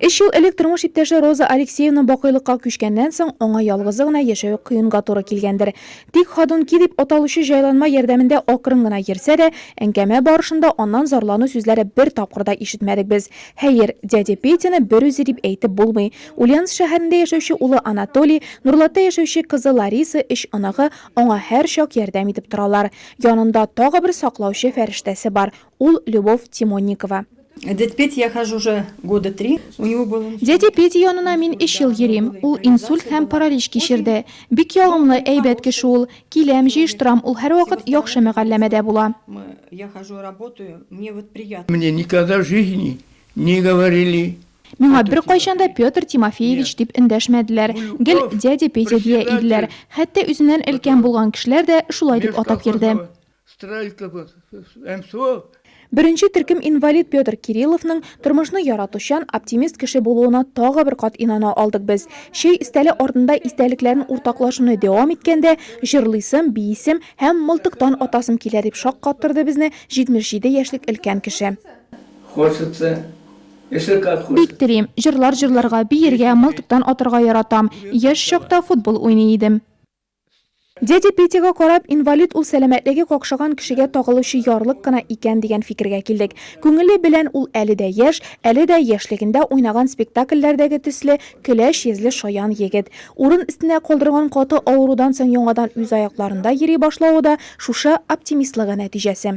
Өч ел элек тормыш иптәше Роза Алексеевна бакыйлыкка күчкәннән соң, аңа ялгызы гына яшәү кыенга туры килгәндер. Тик Ходунки дип аталучы җайланма ярдәмендә акрын гына йөрсә дә, әңгәмә барышында аннан зарлану сүзләре бер тапкыр да ишетмәдек без. Хәер, дядя Петяны берүзе дип әйтеп булмый. Ульяновск шәһәрендә яшәүче улы Анатолий, Нурлатта яшәүче кызы Лариса, өч оныгы аңа һәрчак ярдәм итеп торалар. Янында тагы бер саклаучы фәрештәсе бар, ул Любовь Тимонникова. Дядь Петь, я хожу уже года три, у него был инсульт. Дядя Петя янына мин өч ел йөрим, ул инсульт һәм паралич кичерде. Бик ягымлы, әйбәт кеше ул. Киләм, җыештырам, ул һәрвакыт яхшы мөгалләмәдә була. Я хожу работаю, мне вот приятно. Мне никогда в жизни не говорили. Миңа беркайчан да Петр Тимофеевич дип эндәшмәделәр, гел дядя Петя дия иделәр. Хәтта үзеннән өлкән булган кешеләр дә шулай дип атап йөрде. Беренче төркем инвалид Петр Кирилловның тормышны яратучан, оптимист кеше булуына тагы бер кат инана алдык без. Чәй өстәле артында истәлекләрен уртаклашуны дәвам иткәндә, җырлыйсым, биисем һәм мылтыктан атасым килә, дип шаккаттырды безне 77 яшьлек өлкән кеше. Бик телим, җырлар җырларга, биергә, мылтыктан атарга яратам. Яшь чакта футбол уйный идем. Дядя Петяга карап, инвалид ул сәламәтлеге какшаган кешегә тагылучы ярлык кына икән дигән фикергә килдек. Күңеле белән ул әле дә яшь, әле дә яшьлегендә уйнаган спектакльләрдәге төсле көләч йөзле шаян егет. Урын өстенә калдырган каты авырудан соң яңадан үз аякларында йөри башлавы да шушы оптимистлыгы нәтиҗәсе.